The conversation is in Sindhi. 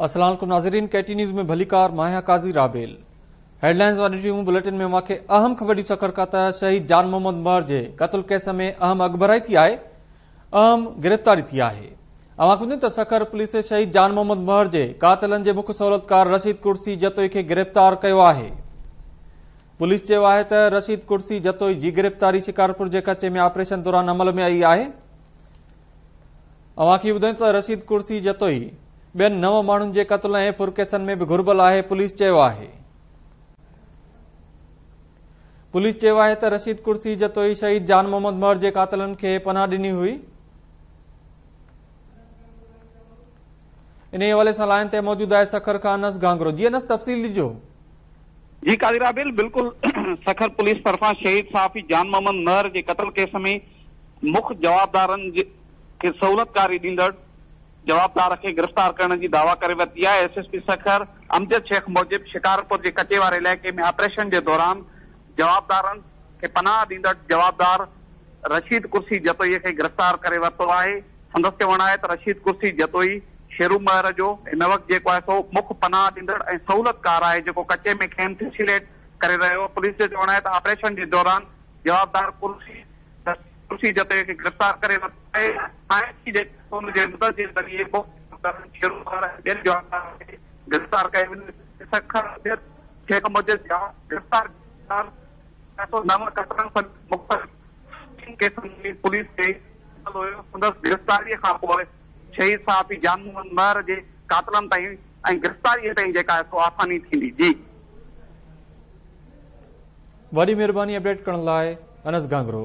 السلام عليڪم ناظرين ڪي ٽي نيوز ۾ ڀليڪار ماهيا قاضي رابيل هيڊلائنز واري ٽيون بليٽن ۾ اوهان کي اهم خبر ڏي سکر ڪا ته شهيد جان محمد مهر جي قتل ڪيس ۾ اهم اڳڀرائي ٿي آهي اهم گرفتاري ٿي آهي اوهان کي ته سکر پوليس شهيد جان محمد مهر جي قاتلن جي مک سهولتڪار رشيد ڪرسي جتوئي کي گرفتار ڪيو آهي پوليس چيو آهي ته رشيد ڪرسي جتوئي جي گرفتاري شڪارپور جي ڪچي ۾ آپريشن دوران عمل ۾ آئي آهي اوهان کي ٻڌايون ته رشيد ڪرسي جتوئي ٻين نو ماڻهن جي قتل ۽ ڦر ڪيسن ۾ به گهربل آهي پوليس چيو آهي پوليس چيو آهي ته رشيد ڪرسي جتوئي شهيد جان محمد مهر جي قاتلن کي پناهه ڏني هئي انهيء حوالي سان لائن تي موجود آهي سکر کان انس گهانگرو. جي انس تفصيل ڏجو. جي قاضي رابيل بلڪل سکر پوليس طرفان شهيد صحافي جان محمد مهر جي قتل ڪيس ۾ مک جوابدارن کي سهولتڪاري ڏيندڙ جوابدار کي گرفتار ڪرڻ جي دعويٰ ڪري ورتي آهي S S P Sukkur Amjad Shaikh موجب شڪارپور جي ڪچي واري علائقي ۾ آپريشن جي دوران جوابدارن کي پناهه ڏيندڙ جوابدار رشيد قرشي جتوئي کي گرفتار ڪري ورتو آهي، سندس چوڻ آهي ته رشيد قرشي جتوئي شيرو مهر جو هن وقت جيڪو آهي سو مک پناهه ڏيندڙ ۽ سهولتڪار آهي جيڪو ڪچي ۾ کين فيسيليٽ ڪري رهيو، پوليس جو چوڻ آهي ته آپريشن جي دوران جوابدار قرشي رشيد قرشي جتوئي کي گرفتار ڪري ورتو آهي، آء سي جي ڪنٽرول جي مدد جي ذريعي مک جوابدارن شيرو مهر ۽ ٻين جوابدارن کي گرفتار ڪيو وڃي، سکر، سنڌ. شيخ مجيد جان گرفتار ڪرڻ ڇهه سؤ نو قتلن سميت مختلف ٽن ڪيسن ۾ پوليس تي مشتمل هيو، سندس گرفتاري کان پوء شهيد صحافي جان محمد مهر جي قاتلن تائين ۽ گرفتاري تائين جيڪا سو آساني ٿيندي. جي. وڏي مھرباني اپڊيٽ ڪرڻ لاء انس گانگرو.